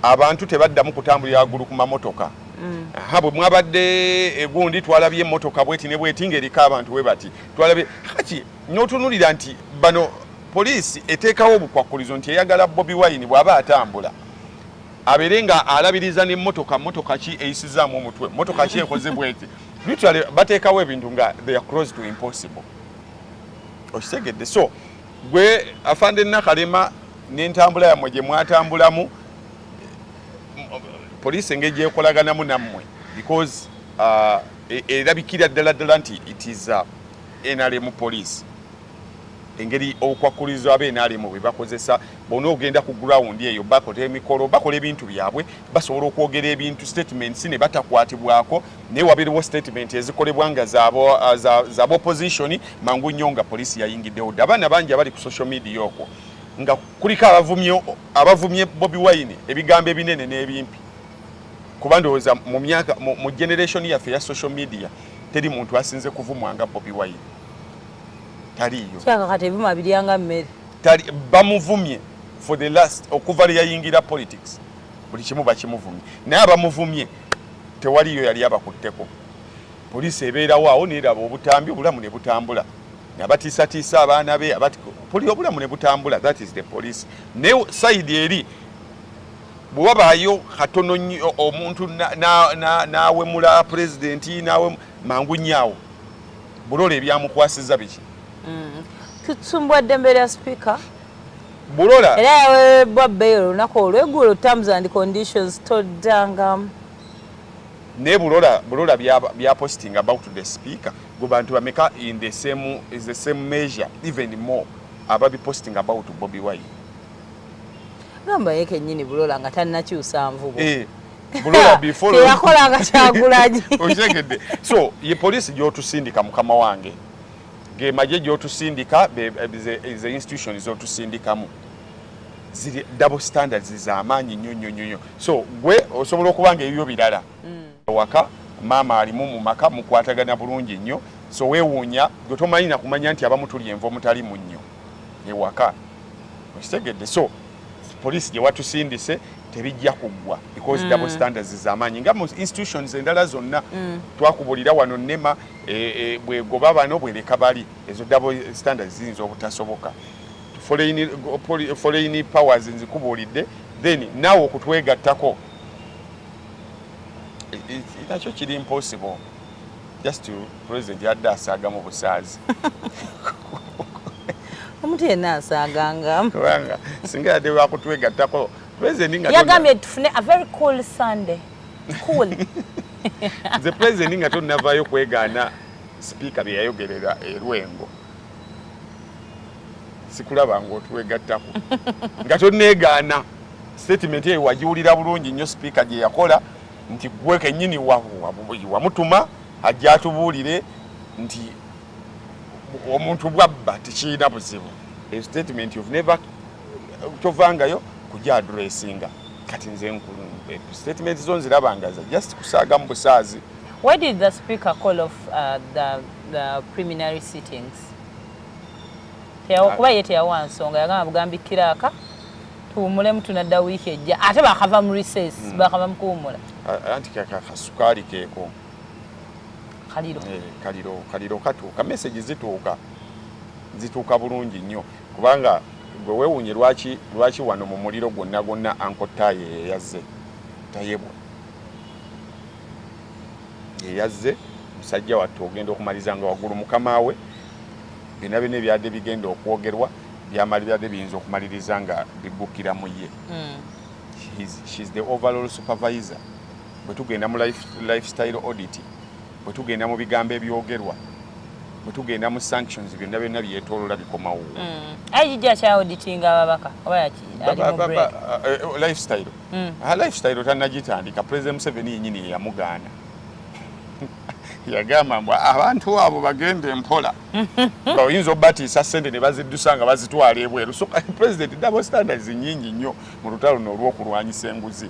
Speaker 1: abantu tebaddamu kutambulira waggulu ku mamotoka mm. ha bwe mwabadde egundi twalabye emotoka bweti ne bweti ng'eriko abantu we bati twalabye haki notunulira nti bano poliisi eteekawo obukwakkulizo nti eyagala bobi wine bw'aba atambula abeere nga alabiriza nemotoka motoka ki eyisizaamu omutwe motoka ki ekoze bweti literally bateekawo ebintu nga they are close to impossible okitegedde so gwe afande nakalema n'entambula yammwe gye mwatambulamu poliisi engeri gyekolaganamu nammwe because uh, e, erabikira ddala ddala nti it is uh, nrm police engeri obukwakkulizo abe nrm bwe bakozesa bona ogenda ku ground eyo bakola emikolo bakola ebintu byabwe basobola okwogera ebintu statements ne batakwatibwako naye wabeerewo statement ezikolebwa nga zaba opposition mangu nnyo nga poliisi yayingiddewo dda abaana bangi abali ku social media okwo nga kuliko abavumye bobi wine ebigambo ebinene n'ebimpi kuba ndowooza mu myaka mu generation yaffe ya social media teri muntu asinze kuvumwa nga Bobi Wine taliyo kyakakati ebima
Speaker 2: biryanga mmere tali bamuvumye
Speaker 1: for the last okuva lye yayingira politics buli kimu bakimuvumye naye abamuvumye tewaliyo yali abakutteko poliisi ebeerawo awo neeraba obutambi obulamu ne butambula nabatiisatiisa abaana be poli obulamu ne butambula that is the police ne sayidi eri bwe wabaayo katono nnyo omuntu n'awemula pulezidenti nawe mangu nnyaawo bulola ebyamukwasiza biki mm.
Speaker 2: tutumbwa ddembe lya sipiika bulola
Speaker 1: era yaweereddwa
Speaker 2: bbeeyi olunaku olweggulo terms and conditions toddanga
Speaker 1: naye bulola bulola byapositinga about the speaker gwe bantu bameka in the same, is the same measure even more ababipositinga about bobi wine
Speaker 2: gamba ye kenyini bulola nga tannakyusa nvubo eh,
Speaker 1: teyakolanga kyagulanyi
Speaker 2: okitegedde
Speaker 1: so ye poliisi gyotusindika mukama wange ge magye gyotusindika ze institution zotusindikamu ziri double standards zamaanyi nnyo nnyo nnyo so gwe osobola okuba nga ebibyo birala mm. waka maama alimu mu maka mukwatagana bulungi nnyo so wewuunya gwe tomanyi na kumanya nti abamu tuli enva omutali munnyo ewaka okitegedde so poliisi gye watusindise tebijja kuggwa because mm. double standards zamaanyi nga mu institutions endala zonna mm. twakubulira wano nema e, e, bwegoba bano bwereka bali ezo double standards ziyinza obutasoboka foreign powers nzikubuulidde then naawe okutwegattako nakyo kiri impossible just president yadde asaagamu busaazi
Speaker 2: omuntu yenna asaaganga kubanga singa
Speaker 1: yadde wakutwegattako president nga yagambye tufune a very
Speaker 2: cool sunday cool
Speaker 1: nze president nga tonnavaayo kwegaana sipiika bye yayogerera erwengo sikulaba ngaotwegattako nga toneegaana sitatimenti eyo wagiwulira bulungi nnyo sipiika gye yakola nti gwe kenyini wamutuma ajja atubuulire nti omuntu bwabba tekirina buzibu eyo sitatimenti kyovangayo kuja adressinga kati nze nkulu statement zo nzirabangaza just kusaaga mu busaazi why did the
Speaker 2: speaker call off uh, the, the preliminary sittings kuba ye teyawa nsonga yagamba bugambi kiraaka tuwumulemu tunadda wiiki ejja ate bakava mu recess hmm. bakava mu kuwumula anti
Speaker 1: kakasukaali keeko kaliro eh, kaliro kaliro katuuka message zituuka zituuka bulungi nnyo Kubanga gwe wewunye lwaki lwaki wano mumuliro gwonna gwonna uncle taye yeyazze tayebwa yeyazze musajja wattu ogenda okumaliza nga waggulu mukama we byonna byonna ebyadde bigenda okwogerwa byamali byadde biyinza okumaliriza nga biggukira mu ye mm. she's, she's the overall supervisor bwe tugenda mu life, lifestyle audit Bwe tugenda mu bigambo ebyogerwa, bwe tugenda mu sanctions, byonna byonna byetolola bikomawo. Mm. IG akya
Speaker 2: auditinga ababaka oba yaki ali mu break. Eh, eh, oh, lifestyle.
Speaker 1: Mm. Ha ah, lifestyle tanagitandika President Museveni yenyini yeyamugaana. yagamba mbu abantu abo bagende mpola nga oyinza obatiisa sente ne baziddusa nga bazitwala ebweru so president double standards nyingi nnyo mu lutalo no olw'okulwanyisa enguzi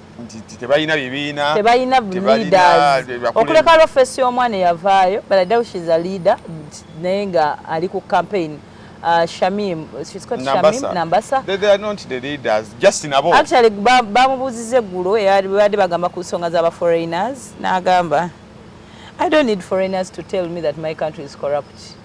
Speaker 2: nti
Speaker 1: tebalina bibiina tebalina
Speaker 2: leaders okuleka lwa face y'omwana eyavaayo but I doubt she's a leader naye nga ali ku campaign Uh, Shamim, she's called Nambasa. Shamim Nambasa. They, they are not the
Speaker 1: leaders, just nabo. Actually, bamubuzize
Speaker 2: ba gulo, yari bade bagamba kusonga zaba foreigners, na agamba. I don't need foreigners to tell me that my country is corrupt.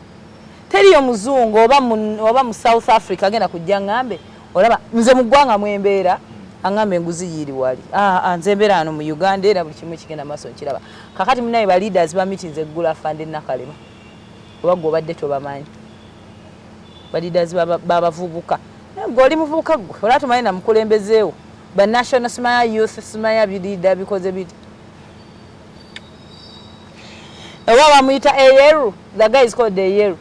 Speaker 2: Teri yo mzungu, oba, oba mu South Africa, gena kujia ngambe, olaba nze mugwanga mwembeera angamba enguzi yiri wali ah, ah, nze mbeera ano mu uganda era buli kimu ekigenda maaso nkiraba kakati munaye ba leaders ba meetings eggula fande nakalema oba gwe obadde tobamanyi ba leaders babavubuka gwe oli muvubuka gwe olaba tomanyi namukulembezeewo ba national smaya youth smaya biliida bikoze biti oba bamuyita eyeru the guy is called eyeru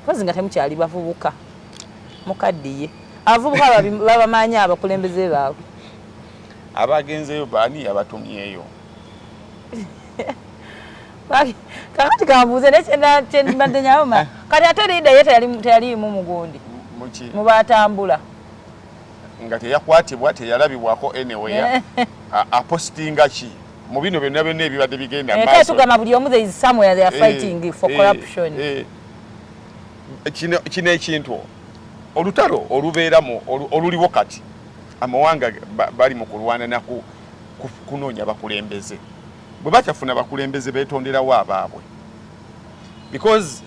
Speaker 2: kozi nga temukyali bavubuka Mukaddiye. Abavubuka babamanyi abakulembeze baabwe.
Speaker 1: Abagenzeyo baani yabatumyeyo?
Speaker 2: Kakati kambuuze naye kyembadde nyawoma. Eh. Kati ate Lida ye teyaliimu mugundi mu baatambula.
Speaker 1: Nga teyakwatibwa teyalabibwako anywhere. Apostinga ki? mu bino byonna byonna ebibadde bigenda eh, maaso. Tugamba buli omu there is
Speaker 2: somewhere they are eh, fighting for corruption.
Speaker 1: kino ekintu olutalo olubeera mu oluliwo kati amawanga bali mu kulwana naku kunoonya bakulembeze bwe batafuna bakulembeze betonderawo abaabwe because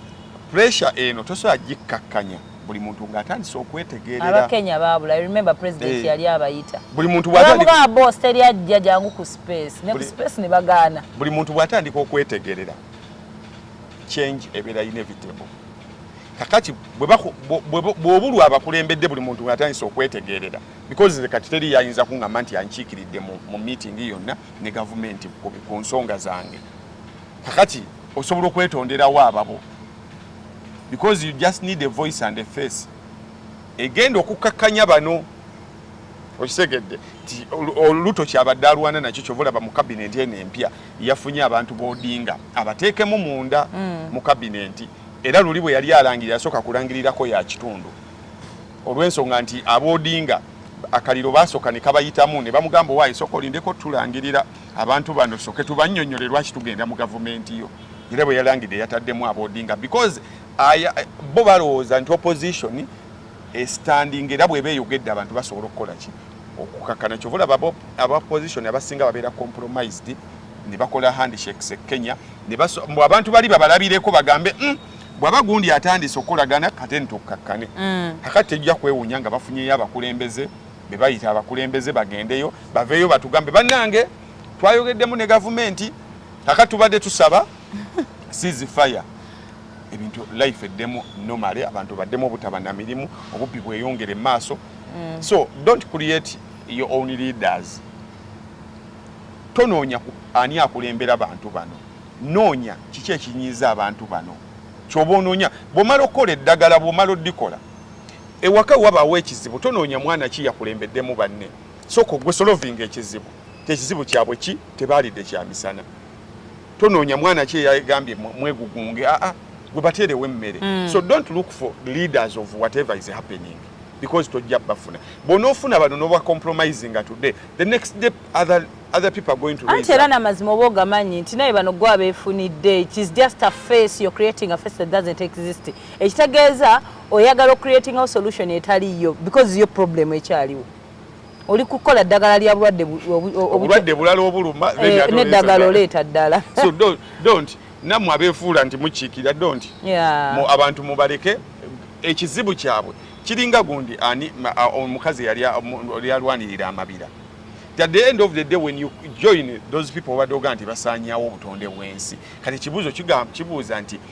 Speaker 1: pressure eno tosobola gikkakkanya buli muntu ng'atandise okwetegerera abakenya baabula
Speaker 2: remember president eh. yali abayita buli muntu bwatandika
Speaker 1: boss teri
Speaker 2: ajja jangu ku space ne ku space ne bagaana buli muntu bwatandika
Speaker 1: okwetegerera change ebeera inevitable kakati bwobulwa abakulembedde buli muntu atandise okwetegerera because nze kati teri yayinza kuŋamba nti yankiikiridde mu meeting yonna ne gavumenti ku nsonga zange kakati osobola okwetonderawo ababo because you just need a voice and a face egenda okukkakkanya bano okitegedde nti oluto kyabadde alwana nakyo kyova olaba mu kabinenti eno empya yafunye abantu bodinga abateekemu munda mm. mu kabinenti era luli bwe yali alangirira asooka kulangirirako ya kitundu olw'ensonga nti abodinga akaliro basooka ne kabayitamu ne bamugamba owaayi sooka olindeko tulangirira abantu bano soke tubanyonyole lwaki tugenda mu gavumenti yo era bwe yalangidde yataddemu abodinga because bo balowooza nti opposition esitandinga era bweba eyogedde abantu basobola okukola ki okukakana kyova olaba aba position abasinga babeera compromised ne bakola handshakes e kenya mbu abantu bali babalabireko bagambe mm, bwaba gundi atandise okukolagana kate nitukakkane mm. akati tejja kwewunya nga bafunyeyo abakulembeze bebayita abakulembeze bagendeyo baveeyo batugambe bannange twayogeddemu ne gavumenti kakati tubadde tusaba sizi fire ebintu life eddemu normally abantu baddemu obutaba na mirimu obubbi bweyongere maaso mm. so don't create your own leaders tonoonya ani akulembera bantu bano noonya kiki ekinyiiza abantu bano kyoba onoonya bwomala okukola eddagala bwomala odikola ewaka wabaawo ekizibu tonoonya mwana ki yakulembeddemu banne sooka ogwe solovinga ekizibu kyekizibu kyabwe ki tebaalidde kyamisana tonoonya mwana ki eyagambye mwegugunge aa ah, ah, gwe bateerewo emmere hmm. so don't look for leaders of whatever is happening because tojja bafuna bwonaofuna bano noba compromising today the next day other other people are going to raise era namazima oba ogamanyi
Speaker 2: nti naye bano gwa befunidde it is just a face you're creating a face that doesn't exist ekitegeeza oyagala ocreating a solution etaliyo because yo problem ekyaliwo oli kukola ddagala lya bulwadde obulwadde bulala obuluma
Speaker 1: eh, neddagala oleeta
Speaker 2: ddala so don't
Speaker 1: namwe abefuula nti mukiikira don't mu abantu mubaleke ekizibu kyabwe kiringa gundi ani omukazi yali alwanirira amabira at the end of the day when you join those people obadde oga nti basaanyawo obutonde bwensi kati ekibuuzo kibuuza nti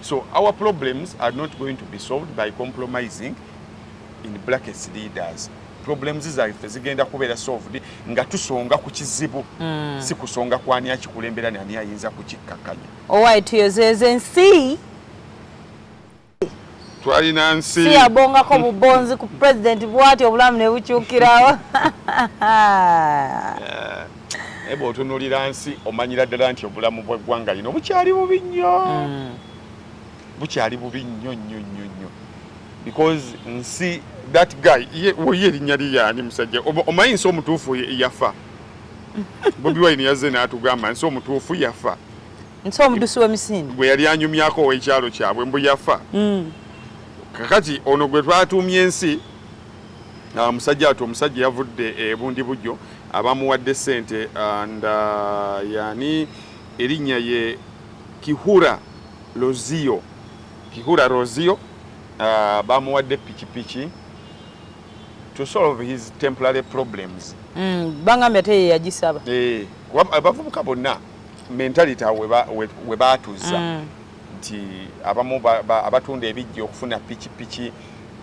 Speaker 1: So our problems are not going to be solved by compromising in blackest leaders. Problems zaffe zigenda kubeera solved nga tusonga ku kizibu mm. si kusonga kwani akikulembera nani ayinza kukikkakkanya. Owaye tuyozeeze
Speaker 2: ensi.
Speaker 1: twalina nsi si yabongako bubonzi
Speaker 2: ku president bwati obulamu ne bukyukirawo
Speaker 1: naye bw'otunuulira nsi omanyira ddala nti obulamu bw'eggwanga lino bukyali bubi nnyo mm. bukyali bubi nnyo nnyo nnyo nnyo because nsi that guy ye ye erinnya lye yaani musajja omanyi nsi omutuufu yafa bobi wine yazze n'atugamba nsi omutuufu yafa nti omudusi
Speaker 2: w'emisinde gwe yali anyumyako
Speaker 1: ow'ekyalo kyabwe mbu yafa mm. kakati ono gwe twatuumye ensi ah, musajja ati omusajja yavudde ebundi bujjo abamuwadde sente ah, nda yani erinnya ye kihura lozio kihura rozio ah, bamuwadde pikipiki to solve his temporary problems mm, bangambye ate
Speaker 2: yeyagisaba eh, abavubuka
Speaker 1: bonna mentality awo we baatuzza mm. nti abamu abatunda ebijja okufuna pikipiki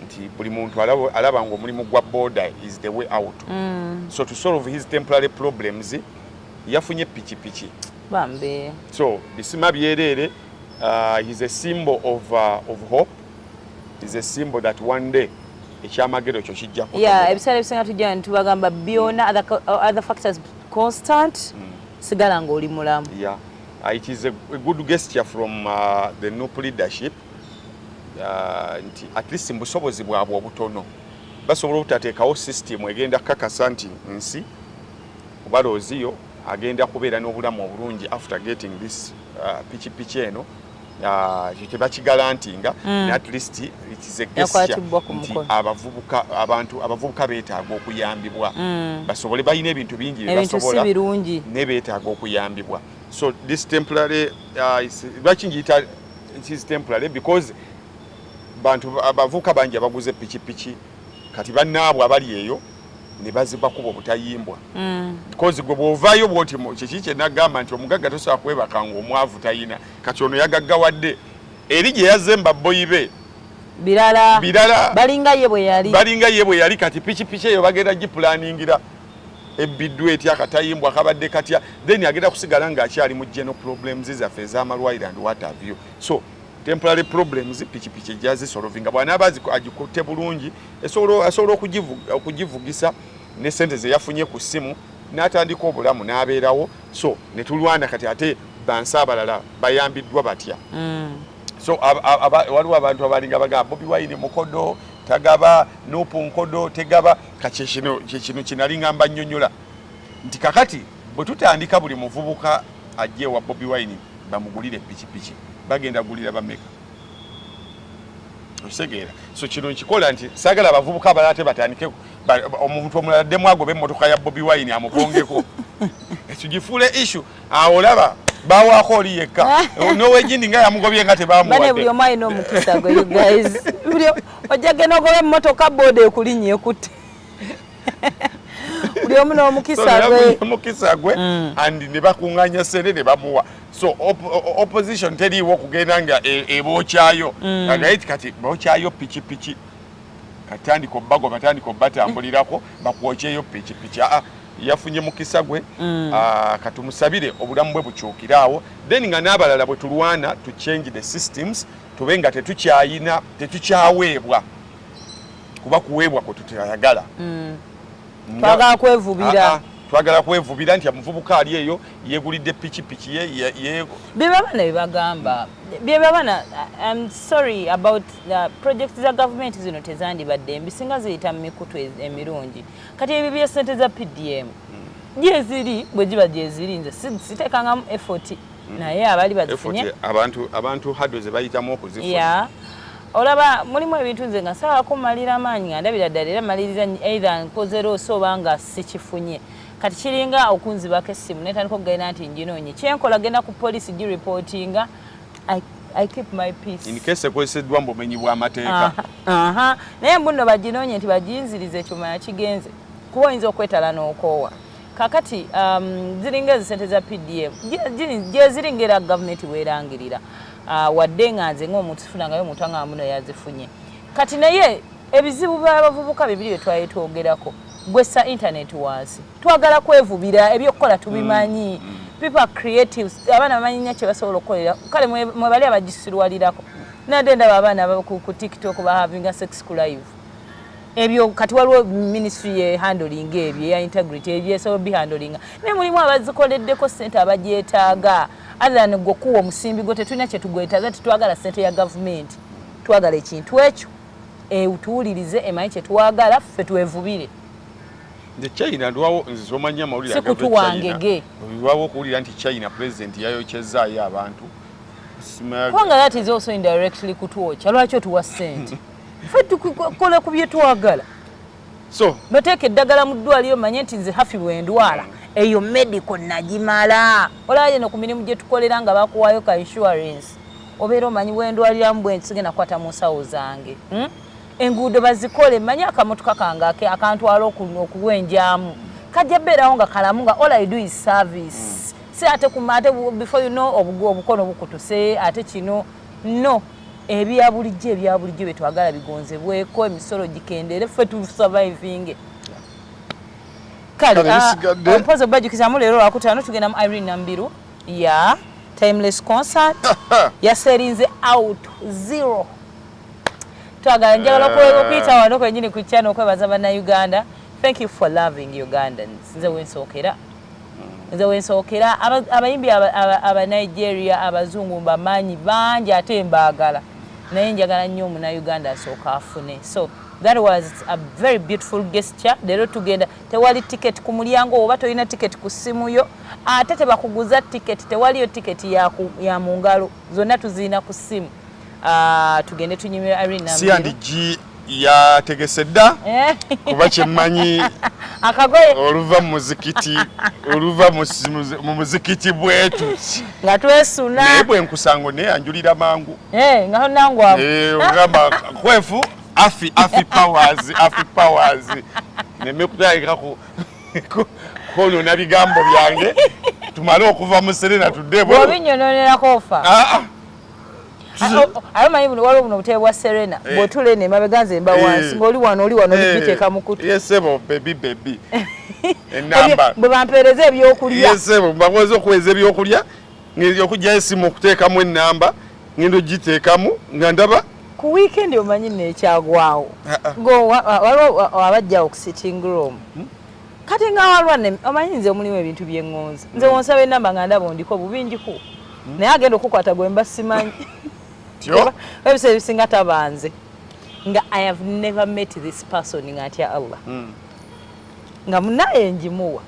Speaker 1: nti buli muntu alaba nga omulimu gwa boda is the way out mm. so to solve his temporary problems yafunye pikipiki bambi
Speaker 2: so bisima
Speaker 1: byereere uh, he's a symbol of, uh, of hope is a symbol that one day ekyamagero kyo kijja kuya ebiseera ebisinga tujja
Speaker 2: ntubagamba byona other factors constant mm. sigala nga oli mulamu yeah. Uh, it is
Speaker 1: a, a good gesture from uh, the nup leadership uh, nti at least mubusobozi bwabwe obutono basobola obutateekawo system egenda kukakasa nti nsi obalooziyo agenda kubeera n'obulamu obulungi after getting this uh, pikipiki eno Ah, ekyo tebakigalantinga mm. at least nti abavubuka abantu abavubuka beetaaga okuyambibwa mm. basobole balina ebintu bingi byebasobola naye beetaaga okuyambibwa so this temporary ah, lwaki ngiyita is temporary because bantu abavubuka bangi abaguze pikipiki kati bannaabwe abali eyo ne bazibakuba obutayimbwa mm. because gwe bw'ovaayo bwoti kiki kyenagamba nti omugagga tosobola kwebaka ngaomwavu tayina kati ono yagaggawadde eri gye yazze mbabboyi be birala
Speaker 2: birala balinga ye bwe yali balinga ye bwe yali kati pikipiki eyo bagenda gipulaningira ebbiddwa etya akatayimbwa kabadde katya then agenda kusigala ng'akyali mu geno problems zaffe ez'amalwaliro and what have you so temporary problems pikipiki ejazisolovinga bwanaaba agikutte bulungi asobola okugivugisa ne sente zeyafunye ku ssimu n'atandika obulamu n'abeerawo so ne tulwana kati ate bansi abalala bayambiddwa batya mm. so waliwo abantu abalinga bagamba bobi wine mukodo tagaba nupu nkodo tegaba kakyekino kyekino kinalinga mbanyonyola nti kakati bwe tutandika buli muvubuka ajja ewa bobi wine bamugulire pikipiki bagenda gulira bameka
Speaker 1: okitegeera so kino nkikola nti sagala abavubuka abalala te batandike omuntu omulala ddemu agobe emmotoka ya bobi wine amugongeko ekigifuule issu awo olaba bawaako oli yekka nowejindi nga yamugobye nga tebamuwadde buli omu alina omukisa
Speaker 2: gwe you guys ojja genda ogoba emmotoka booda ekulinnya ekutte buli omu n'omukisa gwe omukisa
Speaker 1: gwe mm. and ne bakunganya sente ne bamuwa so op opposition teriiwo okugenda nga e, ebokyayo mm. naye kati bokyayo pikipiki katandika obbago batandika obbatambulirako bakwokyeyo pikipiki aa ah, yafunye mukisa gwe mm. ah, katumusabire obulamu bwe bukyukire awo then nga n'abalala bwe tulwana to change the systems tube nga tetukyayina tetukyaweebwa kuba kuweebwa kwe tutayagala mm. twagala kwevubira ah, ah, twagala kwevubira nti amuvubuka ali eyo yegulidde pikipiki ye byebabana
Speaker 2: byebagamba byebabana im sorry about the project za gavumenti zino tezandibadde mbi singa ziyita mu mikutu e-, emirungi kati ebyo byesente za pdm hmm. gyeziri bwe giba gyeziri nze siteekangamu effort mm. naye abali bazifunye abantu abantu hado
Speaker 1: ze bayitamu okuzifuna yeah. olaba
Speaker 2: mulimu ebintu nze nga sawa kumalira amaanyi nga ndabira ddala era maliriza either nkoze loosi oba nga sikifunye kati kiringa okunzibako essimu netandika okugenda nti njinoonye kyenkola genda ku polisi giripootinga I keep my peace. In case ekweseddwa mbu
Speaker 1: menyi bwa mateeka. Aha. Naye
Speaker 2: mbuno bajinonye nti bajinzirize chuma ya kigenze. Kuwa inzo kwetala n'okoowa. kakati um, ziringa ezisente za pdf gyeziri ngaera gavumenti werangirira uh, wadde nga nze ngaomuntu sifunangayo omuntu anga muno yazifunye kati naye ebizibu byabavubuka bibiri byetwali twogerako gwessa intaneti wansi twagala kwevubira ebyokukola tubimanyi mm, mm. people are creative abaana bamanyi nnyo kyebasobola okukolera kale mwebali abagisirwalirako nadde ndaba abaana ku tiktok bahavinga sex ku live ebyo kati waliwo ministry ye handling ebyo eya integrity ebyo esobola bihandling naye mulimu abazikoleddeko ssente abagyetaaga athan gwe okuwa omusimbi gwe tetulina kyetugwetaaza tetwagala ssente ya gavumenti twagala ekintu ekyo etuwulirize emanyi kyetwagala ffe twevubire nze
Speaker 1: china ndwawo nze zomanya amawulire sikutuwangege
Speaker 2: ndwawo okuwulira
Speaker 1: nti china president yayokyezaayo abantu
Speaker 2: kubanga that is also indirectly kutwokya lwaki otuwa ssente fe tukola ku bye twagala so
Speaker 1: bateeka eddagala
Speaker 2: mu ddwaliro manye nti nze hafi bwendwala eyo medical nagimala olaba yeno ku mirimu gye tukolera nga bakuwaayo ka insurance obeera omanyi bwendwaliramu bwensigenda kukwata mu nsawo zange hmm? enguudo bazikole manye akamotoka kange akantwala okuwenjamu kajja beerawo nga kalamu nga all i do is service hmm. si ate kumate before you know obukono bukutuse ate kino No. Ebya bulijjo ebya bulijjo bye twagala bigonzebweko, emisolo gikendeere, ffe tu survivinge. Kale, ah, ah, mpozi obajukizaamu leero lwakutaano tugenda mu Irene Nambiru ya Timeless Concert yaserinze out zero. Twagala njagala eh. okuyita wano kwenyini ku channel okwebaza bannayuganda. Thank you for loving Ugandans. Nze wensookera. nze wensookera abayimbi aba nigeria abazungu mbamanyi bangi ate mbaagala naye njagala nnyo omunauganda asooka afune so that was a very beautiful gesture leero tugenda tewali ticket ku mulyango oba tolina ticket ku ssimu yo ate tebakuguza ticket tewaliyo ticket ya mu ngalo zonna tuziina ku ssimu Ah, tugende tunyimira Irene Nambi. Siya ndiji
Speaker 1: ya tegesedda eh. kuba kyemmanyi akagoye
Speaker 2: oluva mu
Speaker 1: muzikiti oluva mu muzikiti bwetu nga twesuna
Speaker 2: naye bwe nkusango
Speaker 1: naye anjulira mangu eh, nga nangu
Speaker 2: awo eh, ogamba
Speaker 1: kwefu afi afi powers afi powers neme kutayika ku konona bigambo byange tumale okuva mu serena tudde bwe obinyononerako ofa
Speaker 2: ah, ah. aye omanyi buno waliwo buno obutebe bwa serena eh. bwotula eno emabega nze mba eh. wansi ngaoli wano oli wano olibiteeka eh. mukutu
Speaker 1: bwe bampeereza
Speaker 2: ebyokulya bakoze
Speaker 1: okuweeza ebyokulya okugyayo esimu okuteekamu enamba ngenda ogiteekamu nga ndaba ku wiikendi
Speaker 2: omanyi nekyagwawo ah, ah. waliwo abajja oku sitting room hmm? kati nga walwa ne omanyi nze omulimu ebintu byengonza nze mm. wonsaba enamba nga ndaba ondiko bubinjiko mm. naye agenda okukwata gwemba simanyi ebisa ebisinga tabanze nga i have never met this person nga atya allah mm. nga munaye njimuwa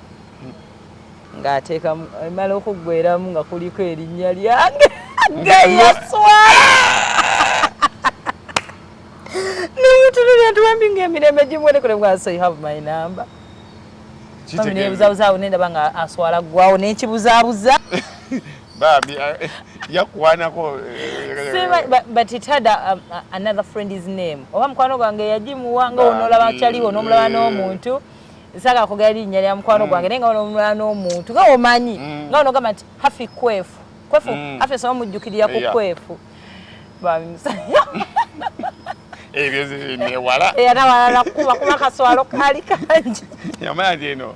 Speaker 2: nga ateeka emala okuggweramu nga kuliko erinnya lyange geyaswala Namutunulira tuwambi ng'emirembe gimwolekole bwa so you have my number. Bambi nebuzabuzaawo nendaba nga aswala ggwawo nekibuzaabuza.
Speaker 1: Bambi eh, yakwanako. Eh,
Speaker 2: but it had a, um, a, another friend his name. Oba mukwano gwange yagimuwa nga onolaba akyaliwo nomulaba n'omuntu. Nsaka kugera linnya lya mukwano mm. gwange naye nga onomulaba n'omuntu nga omanyi mm. nga onogamba nti hafi kwefu kwefu mm. hafi esoma mujjukirira ku kwefu. babimusanya ebyo
Speaker 1: zinewala era walala kuba
Speaker 2: kuba kaswalo kali kangi yamanya tino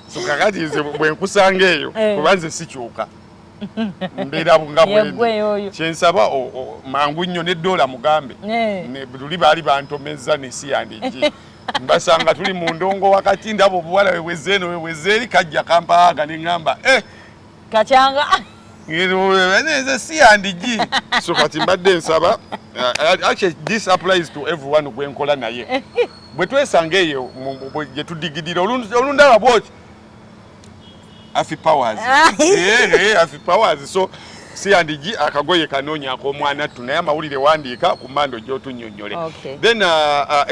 Speaker 1: so kakati nze bwe nkusanga eyo eh. kuba nze sikyuka mbeera nga bwendi kyensaba mangu nnyo ne doola mugambe eh. luli baali bantomezza nesi yandigi mbasanga tuli mu ndongo wakati ndaba obuwala webwezzeeno webwezze eri kajja kampaaga ne ŋŋamba eh, kakyanga nze si yandigi so kati mbadde nsaba uh, actually this applies to everyone gwenkola naye bwe twesanga eyo gye tudigidira olundaba bwoki afi powers ah. eh, eh, afi powers so si yandigi akagoye kanoonya akomwana ttu naye amawulire wandiika ku mando gyotunyonyole then uh, uh,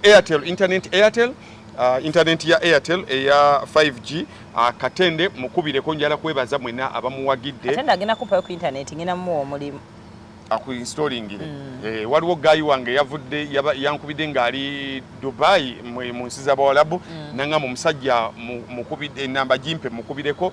Speaker 1: airtel internet airtel Uh, internet ya Airtel eya 5G uh, katende mukubire ko njala kwebaza mwena abamuwagidde katende agenda kupa ku
Speaker 2: internet ngina mu omulimu aku installing
Speaker 1: ile mm. eh waliwo guy wange yavudde yankubide ngali Dubai mu nsiza bawalabu mm. nanga mu musajja mukubide namba jimpe mukubireko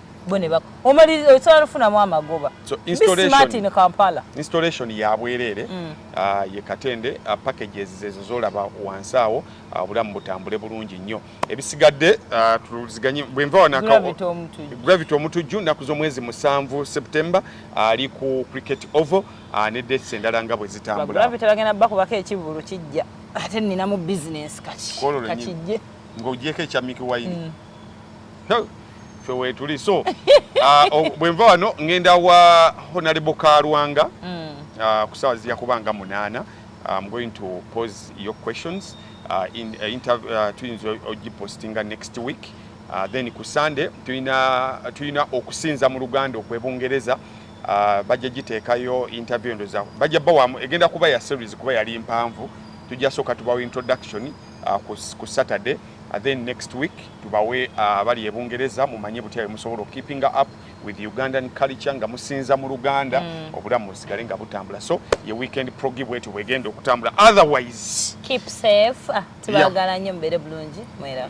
Speaker 2: bo ne bako omali osobola nofunamu amagoba so installation,
Speaker 1: Kampala. installation ya bwereere mm. uh, ye katende uh, packages zezo zolaba wansi awo uh, obulamu butambule bulungi nnyo ebisigadde uh, tuluziganye bwenva wanakawo gravity omutujju naku z'omwezi musanvu september ali uh, ku cricket oval uh, ne dates endala nga bwe zitambula bagenda bakubako
Speaker 2: ekivulu kijja ate ninamu business kati kakijje ng'ogyeko ekya
Speaker 1: miki wayini mm. ffe weetuli so ah, bwe nva wano ngenda wa honalebo kalwanga mm. ah, ku saawa zijja kuba nga munaana ah, im going to pose your questions tuyinza ogipostinga next week then ku sunday tulina okusinza mu luganda okwebungereza bajja giteekayo interview endoza bajja bawamu egenda kuba ya series kuba yali mpanvu tujja sooka tubawa introduction ku saturday then next week tubawe uh, abali ebungereza mumanye butya bwemusobola okukipinga up with ugandan culture nga musinza mu luganda mm. obulamu busigale nga butambula so ye weekend progi bwetyo bwegenda okutambula
Speaker 2: otherwise keep safe ah,
Speaker 1: tubagala
Speaker 2: nyo mubere bulungi mwera